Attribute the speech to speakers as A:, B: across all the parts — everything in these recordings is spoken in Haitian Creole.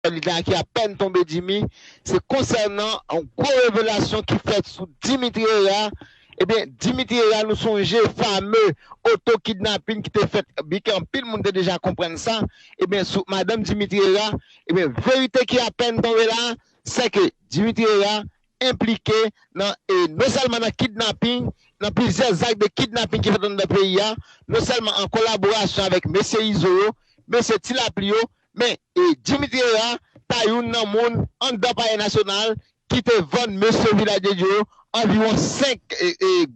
A: Li gen a ki apèn tonbe Jimmy se konsènan yon gwo revelasyon ki fèt sou Dimitri Hera ebyen Dimitri Hera nou sonje fame oto kidnapin ki te fèt byenke anpil moun te deja konprann sa ebyen sou madanm Dimitri Hera ebyen verite ki apèn tonbe la sèke Dimitri Hera enplike nan e non sèlman nan kidnapin nan plizyè zak de kidnapin ki fèt anndan peyi a non sèlman an kolaborasyon avèk mesye Izo yo mesye Ti Lapli yo Men, Jimmy Thierra ta youn nan moun anndan Palè Nasyonal ki te vann mesye Village de Dieu yo anviwon 5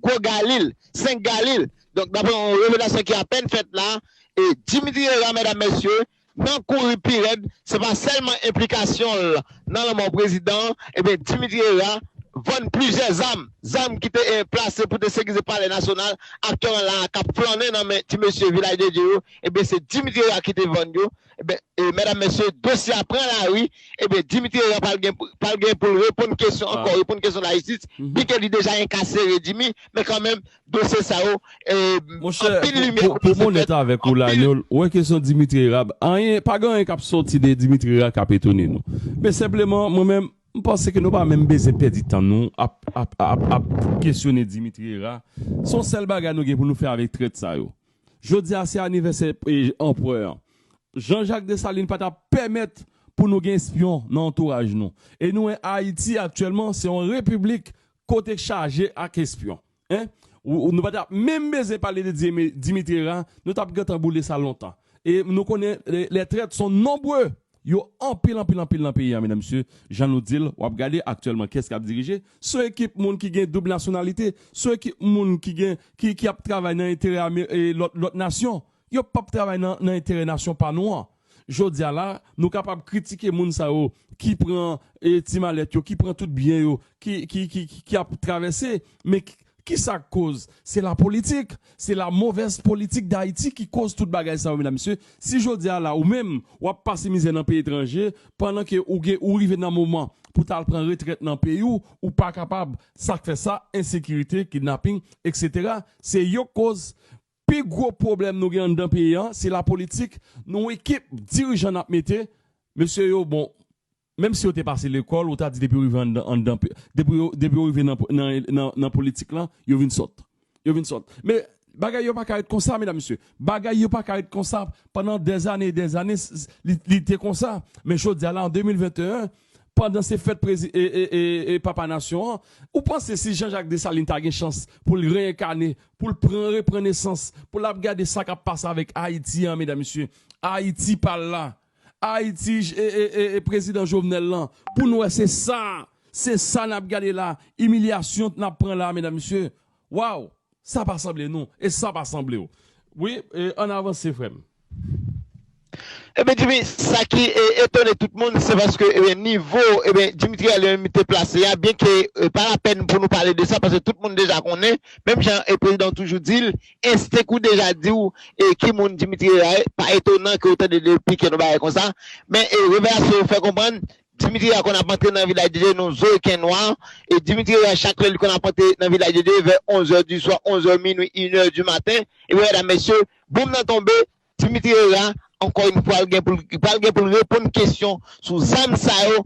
A: gwo galil, 5 galil. Donk, dapre yon revelasyon ki apèn fèt la, Jimmy Thierra, medam mesye, nan kouri pi rèd, se pa sèlman enplikasyon l nan lanmò prezidan an, ebyen Jimmy Thierra vann plizyè zam, zam ki te plase pou te sekirize Palè Nasyonal, aktè an la a k ap flannen nan men ti mesye Village de Dieu yo, ebyen se Dimitri Herard ki te vann yo, ebyen medam mesye dosye a pran lari, ebyen Dimitri Herard pral gen poul reponn kesyon ankò, reponn kesyon lajistis, byen ke li deja enkasere Dimi, men kanmenm dosye sa yo anpil limye komanse
B: fèt, anpil. Monchè, pou m onèt avèk ou Lanyòl, ou wè kesyon Dimitri Herard, anyen, pa gen anyen kap sòti de Dimitri Herard kap etone nou, men senpleman mwen menm, m panse ke nou pa menm bezwen pèdi tan nou ap, ap, ap kesyone Dimitri Herard, son sèl bagay nou gen pou nou fè avèk trèt sa yo. Jodi a se anivèsè anprè an. Jean Jacques Dessalines pa ta pèmèt pou nou gen espyon nan antouraj nou. E nou wè Ayiti aktyèlman se yon repiblik kote k chaje ak espyon. Hein? Nou pa ta menm bezyen pale de Dimitera, nou t ap gentan boule sa lontan. E nou konnen lè trèt son nonbre Yo anpil anpil anpil nan peyi an medam mesye jan nou dil wap gade aktyèlman kiyès kap dirije son ekip moun ki gen doub nasyonalite son ekip moun ki gen ki ki ap travay nan enterè ame lòt lòt nasyon yo pap travay nan nan enterè nasyon pa nou an jodia la nou kapab kritike moun sa yo ki pran ti malèt yo ki pran tout byen yo ki ki ki ap travèse men Ki sa k koz? Se la politik. Se la movèz politik Dayiti ki koz tout bagay sa yo medam mesye. Si jodi a la ou menm w ap pase mizè nan peyi etranje pandan ke ou gen ou rive nan moman pou ta al pran retrèt nan peyi w, ou pa kapab. Sa k fè sa? Ensekirite, kidnaping, eksetera. Se yo k koz. Pi gwo pwoblèm nou gen anndan peyi an se la politik. Nou ekip dirijan n ap mete. Mesye yo bon. Menm si yo te pase lekòl ou ta di depi yo rive anndan anndan depi yo depi yo rive nan nan nan politik lan yo vin sòt yo vin sòt men bagay yo pa ka ret konsa medam mesye bagay yo pa ka ret konsa pandan dèzane e dèzane li li te konsa men jodi a la an 2021 pandan se fèt prezi e e e e papa nasyon an ou panse si Jean Jacques Dessalines ta gen chans pou l reyenkane pou l pran repran nesans pou l ap gade sa k ap pase avèk Ayiti an medam mesye Ayiti pa la. Ayiti e prezidan jovenel lan pou nou wè se sa se sa nap gade la imiliasyon nap pran la medam mesye waw sa pa sanble nou e sa pa sanblew wi ann avanse frèm.
A: Ebyen Jimmy sa ki etone tout moun se paske ebyen nivo ebyen Dimitri a li menm li te plase a byenke pa lapèn pou nou pale de sa paske tout moun deja konnen menm jan e prezidan toujou dil Enstenk ou deja di w ki moun Dimitri a ye, pa etonan ke w tande de pike nou bagay konsa, men revelasyon yo fè konprann Dimitri a konn ap antre nan Vilaj de Dye nou zo ken nwa, e Dimitri a chak lè li konn ap antre nan Vilaj de Dye vè 11 zè di swa, 11 zè minwi, inè di maten, ebyen medam mesye, boum nan tonbe, Dimitri a ankò yn fwa l gen pou l pral gen pou l reponn kesyon sou zam sa yo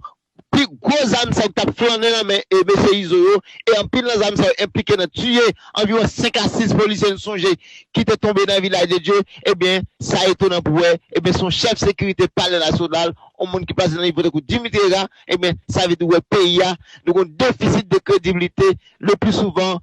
A: Pi gwo zam sa yo ki t ap flannen nan men mesye Izo yo e anpil nan zam sa yo enplike nan tiye anviwon 5 a 6 polisye n sonje ki te tonbe nan Vilaj de Dye ebyen sa etonan pou wè ebyen se yon chèf sekirite palè nasyonal yon moun ki pase nan nivo tankou Dimitri Herard ebyen sa vle di wè peyi a nou gen yon defisit de krediblite le pli souvan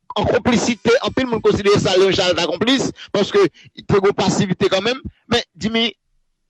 A: an konplisite, anpil moun konsidere sa yon jan l ta konplis paske te gon pasivite kanmenm men Dimi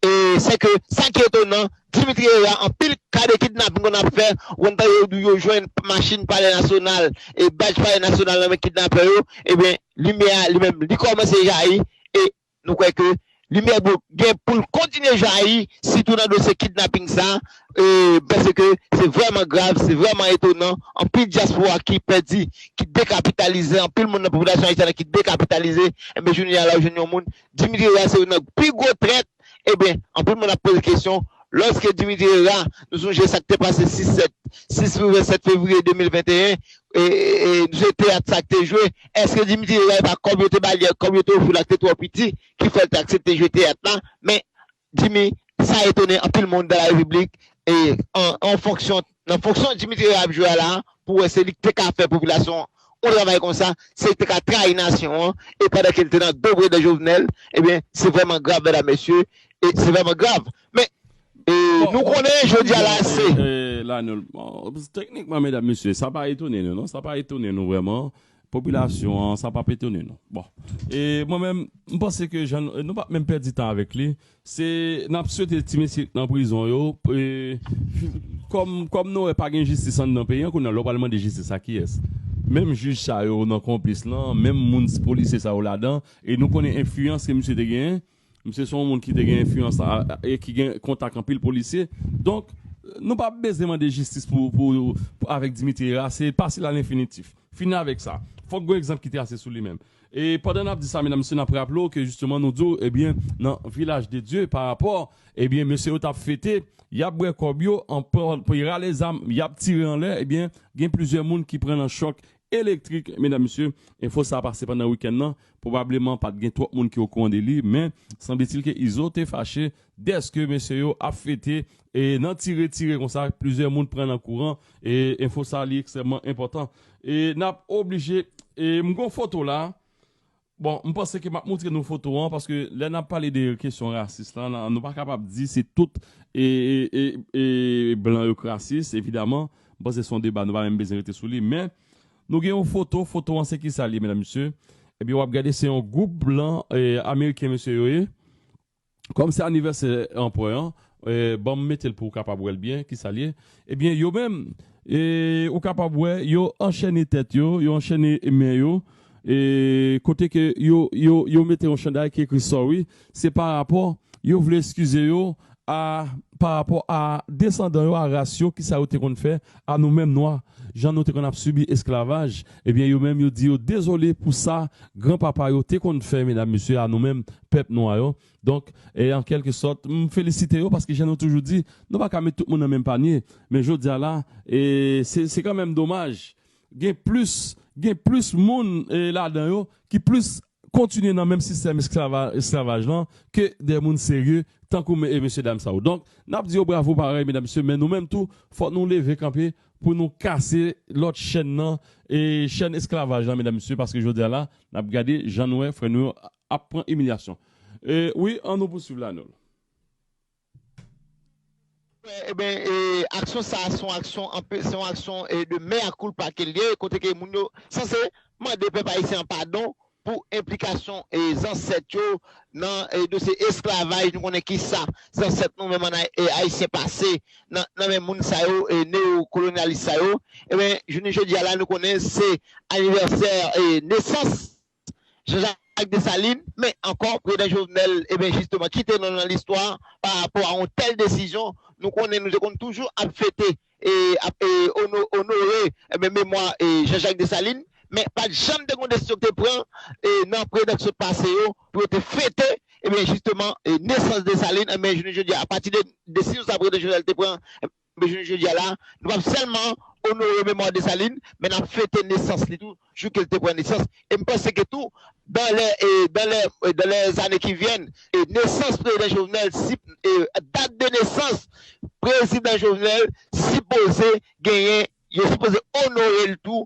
A: e sè ke sa ki etonan Dimitri Herard anpil ka de kidnaping konn ap fè ou konn tande yo di yo jwenn machin palè nasyonal e badj palè nasyonal nan men kidnapè yo ebyen limyè a li menm li kòmanse jayi e Nou kwè ke limyè blo gen pou l kontinye jayi sitou nan dosye kidnaping sa a paske se vrèman grav, se vrèman etonan, anpil dyaspora ki pèdi, ki dekapitalize, anpil moun nan popilasyon ayisyèn an ki dekapitalize, enben jounen a la ou jwenn yon moun, Dimitri Herard se youn nan pi gwo trèt, enben anpil moun ap poze kesyon, lòske Dimitri Herard, nou sonje sa k te pase 6 rive 7 fevriye 2021, Jwe teyat sa k te jwe, èske Dimitri Veer pa kòb yo te ba li ak kòb yo te ofri l ak te twò piti ki fè l te aksepte jwe teyat la, men Dimi sa etone anpil moun dan la repiblik e an fonksyon nan fonksyon Dimitri Veer ap jwe a la pou wè se li k te ka fè popilasyon an yon travay konsa, se li k te ka trayi nasyon an e pandan ke l te nan dobredan Jovenel ebyen se vrèman grav mèdam mesye se vrèman grav. Men, nou konnen jodi a la
B: se. Teknikman, medam, mesye, sa pa etone nou non, sa pa etone nou vrèman, popilasyon an, sa pa p etone nou. Bon, e mwen menm, m panse ke jan nou pa p menm pèdi tan avèk li, se n ap swete ti mesye nan prizon yo, kòm nou wè pa gen jistis anndan peyi an, kounye a lè w pral mande jistis a kiyès? Menm jij sa yo nan konplis lan, menm moun polisye sa yo ladan, e nou konnen enfliyans ke misye te genyen, Misye se yon moun ki te gen enfliyans e ki gen kontak anpil polisye. Donk, nou pa bezwen mande jistis pou avèk Dimitri Hera, se pase l a lenfinitif. Fini avèk sa. Fòk gen yon egzanp ki trase sou li menm. E pandan n ap di sa medam mesye n ap raple w ke jisteman nou di w ebyen nan Vilaj de Dye pa rapò ebyen mesye yo t ap fete, y ap bwè kòb yo, Hera lèzam, y ap tire anlè ebyen gen plizyè moun ki pran nan chòk Elektrik, medam mesye, enfo sa pase pandan wikenn nan, pwobableman pat gen twòp moun ki okouran de li, men sanbletil ke Izo te fache dèske mesye yo ap fete e nan tire tire konsa plizyè moun pran nan kouran e enfo sa li ekstrèmman enpòtan e nap oblije e m gon foto la Bon, m panse ke m ap moutre nou foto an paske lè n ap pale de kesyon rasis la, nou pa kapab di se tout blan yo k rasis evidaman. M panse se yon deba nou pa menm bezwen rete sou li. Men, nou gen yon foto, foto an se kisa li ye medam mesye? Ebyen w ap gade se yon gwoup blan ameriken mesye yo ye. Kòm se anivèsè anprè an, ban m mete l pou w kapab wè l byen ki sa l ye. Ebyen, yo menm, ou kapab wè, yo anchène tèt yo, yo anchène men yo, kote ke yo, yo, yo mete yon chanday ki ekri Sorry, se pa rapò, yo vle eskize yo a, pa rapò a desandan yo, a ras yo, ki sa yo te konn fè a nou menm nwa, jan nou te konn ap sibi esklavaj. Ebyen, yo menm yo di yo dezole pou sa gran papa yo te konn fè medam mesye a nou menm pèp nwa yo. Donk, e an kèlke sòt, m felisite yo paske jan nou toujou di, nou pa ka met tout moun nan menm panye. Men jodi a la, e se se kanmenm domaj, gen plis, gen plis moun e ladan yo ki plis kontinye nan menm sistèm esklava, esklavaj lan ke de moun serye tankou me, e mesye dam sa yo. Donk, n ap di yo bravo parèy medam mesye, men nou menm tou fòk nou leve kanpe pou nou kase lòt chèn nan, e chèn esklavaj lan medam mesye paske jodi a la, n ap gade jan nou wè frè nou yo ap pran imilyasyon wi an nou pou swiv la nol.
A: Ebyen aksyon sa se yon aksyon anpe se yon aksyon de mea culpa kel ye kote ke moun yo sanse mande pèp ayisyen an padon pou enplikasyon zansèt yo nan dosye esklavaj nou konnen kisa zansèt nou menm ayisyen pase nan men moun sa yo neo kolonyalis sa yo ebyen jounen jodi a la nou konnen se anivèsè nesans Jean Jacques Dessalines, men ankò prezidan Jovenel eben jisteman kite nou nan listwa pa rapò a yon tèl desizyon, nou konnen nou te konn toujou ap fete e ap onore eben memwa Jean Jacques Dessalines men pat janm te gon desizyon ki te pran nan prezidan ki sot pase yo pou yo te fete eben jisteman nesans Dessalines eben jounen jodi a apati de desizyon sa prezidan Jovenel te pran Men jounen jodi a la, nou pap sèlman onore memwa Desalin, men nap fete nesans li tou, jou ke li te pran nesans. E m panse ke tou, dan lè, dan lè, dan lè zane ki vyèn, nesans Prezidan Jovenel, si, dat de nesans Prezidan Jovenel sipoze genyen, yo sipoze onore l tou